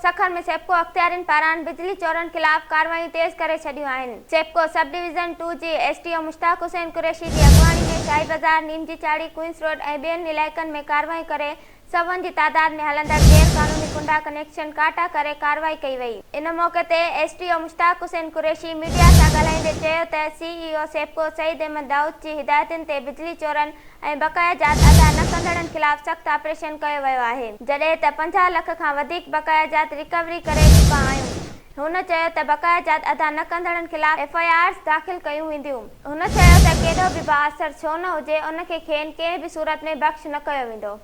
سکر ۾ سيپڪو اختيارين پاران بجلي چورن خلاف ڪارروايون تيز ڪري ڇڏيون آهن، سيپڪو سب ڊويزن ٽو جي S D O Mushtaq Hussain Qureshi جي اڳواڻي ۾ شاهي بازار، نيم جي چاڙهي، ڪوئنس روڊ ۽ ٻين علائقن ۾ ڪارروايون ڪري سوين جي تعداد ۾ هلندڙ غير قانوني ڪنڊا ڪنيڪشن ڪاٽا ڪري ڪارروائي ڪئي وئي. ان موقعي تي S D O Mushtaq Hussain Qureshi media سان ڳالهائيندي چيو ته سي اي او سيپڪو سعيد احمد دائود جي هدايتن تي بجلي چورن ۽ بقايا جات ادا نه ڪندڙن خلاف سخت آپريشن ڪيو ويو آهي، جڏهن ته پنجاهه لک کان وڌيڪ بقايا جات ريڪوري ڪري چڪا آهيون. هن چيو ته بقايا جات ادا نه ڪندڙن خلاف ايف آء آرز داخل ڪيون وينديون. هن چيو ته ڪيڏو به بااثر ڇو نه هجي ان کي کين ڪنهن به صورت ۾ بخش نه ڪيو ويندو.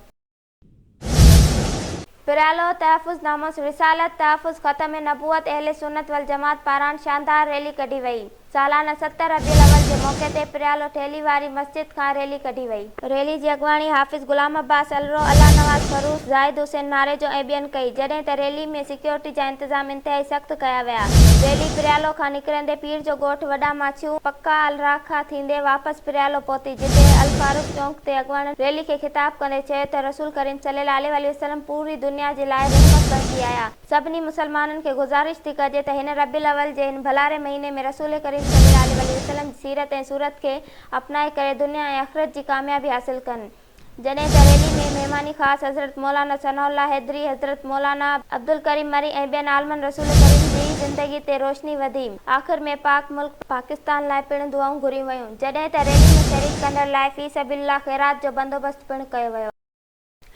پريالو تحفظ ناموس رسالت تحفظ ختم نبوت اهل سنت والجماعت پاران شاندار ريلي ڪڍي وئي سالانه ست ربيع الاول جي موقعي تي پريالو ٺيلهي واري مسجد کان ريلي ڪڍي وئي. ريلي جي اڳواڻي حافظ غلام عباس الرو، الله نواز فروز، زاهد حسين ناريجو ۽ ٻين ڪئي جڏهن ته ريلي ۾ سيڪيورٽي جا انتظام انتهائي سخت ڪيا ويا ريلي پريالو کان نڪرندي پير جو ڳوٺ وڏا ماڇيون پڪا الراکا ٿيندي واپس پريالو پهتي جتي الفاروق چونڪ تي اڳواڻن ريلي کي خطاب ڪندي چيو ته رسول ڪريم صلي الله عليه واٰله وسلم پوري دنيا جي لاء رحمت بڻجي آيا، سڀني مسلمانن کي گذارش ٿي ڪجي ته هن ربيع الاول جي هن ڀلاري مهيني ۾ رسول ڪريم صلي الله عليه واٰله وسلم جي سيرت ۽ صورت کي اپنائي ڪري دنيا ۽ آخرت جي ڪاميابي حاصل ڪن جڏهن ته ريلي ۾ مهماني خاص حضرت مولانا ثناء الله حيدري، حضرت مولانا. عبدالڪريم مري ۽ ٻين عالمن رسول ڪريم جي زندگي تي روشني وڌي، آخر ۾ پاڪ ملڪ. پاڪستان لاء پڻ دعائون گهريون ويون. جڏهن ته ريلي ۾ شريڪ ڪندڙن لاء في سبيل الله خيرات جو بندوبست پڻ ڪيو ويو.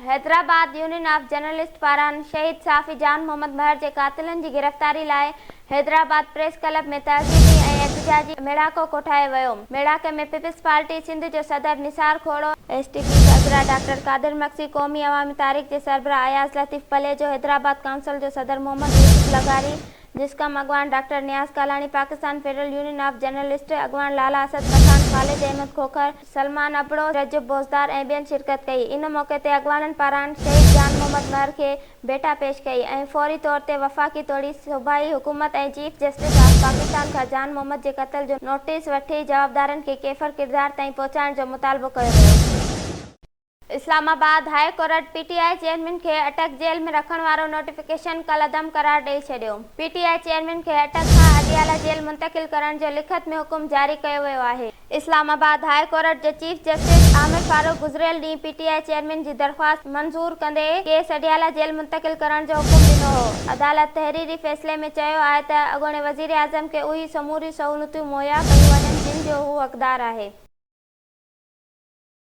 حيدرآباد يونين آف جرنلسٽ پاران شهيد صحافي جان محمد مهر جي قاتلن جي گرفتاري لاء حيدرآباد پريس ڪلب ۾ تهذيبي ۽ احتجاجي ميڙاڪو ڪوٺايو ويو، ميڙاڪي ۾ پيپلز پارٽي سنڌ جو صدر Nisar Khoro, S T P سربراهه ڊاڪٽر قادر مگسي، قومي عوامي تحريڪ جي سربراهه اياز لطيف پليجو، حيدرآباد ڪائونسل جو صدر محمد يوسف لغاري، جسقم اڳواڻ doctor Niaz Kalani, Pakistan federal union of journalist اڳواڻ لالا اسد پٺاڻ، خالد احمد کوکر، سلمان ابڙو، رجب بوزدار ۽ ٻين شرڪت ڪئي، ان موقعي تي اڳواڻن پاران شهيد جان محمد مهر کي ڀيٽا پيش ڪئي ۽ فوري طور تي وفاقي توڙي صوبائي حڪومت ۽ چيف جسٽس آف پاڪستان کان جان محمد جي قتل جو نوٽيس وٺي جوابدارن کي ڪيفر ڪردار تائين پهچائڻ جو مطالبو ڪيو ويو. Islamabad, high court P T I chairman کي اٽڪ جيل ۾ رکڻ وارو نوٽيفڪيشن ڪالعدم قرار ڏئي ڇڏيو، پي ٽي آء چيئرمين کي اٽڪ کان اڊيالا جيل منتقل ڪرڻ جو لکت ۾ حڪم جاري ڪيو ويو آهي. اسلام آباد هاء ڪورٽ جي چيف جسٽس عامر فاروق گذريل ڏينهن پي ٽي آء چيئرمين جي درخواست منظور ڪندي ڪيس اڊيالا جيل منتقل ڪرڻ جو حڪم ڏنو هو، عدالت تحريري فيصلي ۾ چيو آهي ته اڳوڻي وزيراعظم کي اهي سموريون سهولتون مهيا ڪيون وڃن جن جو هو حقدار آهي.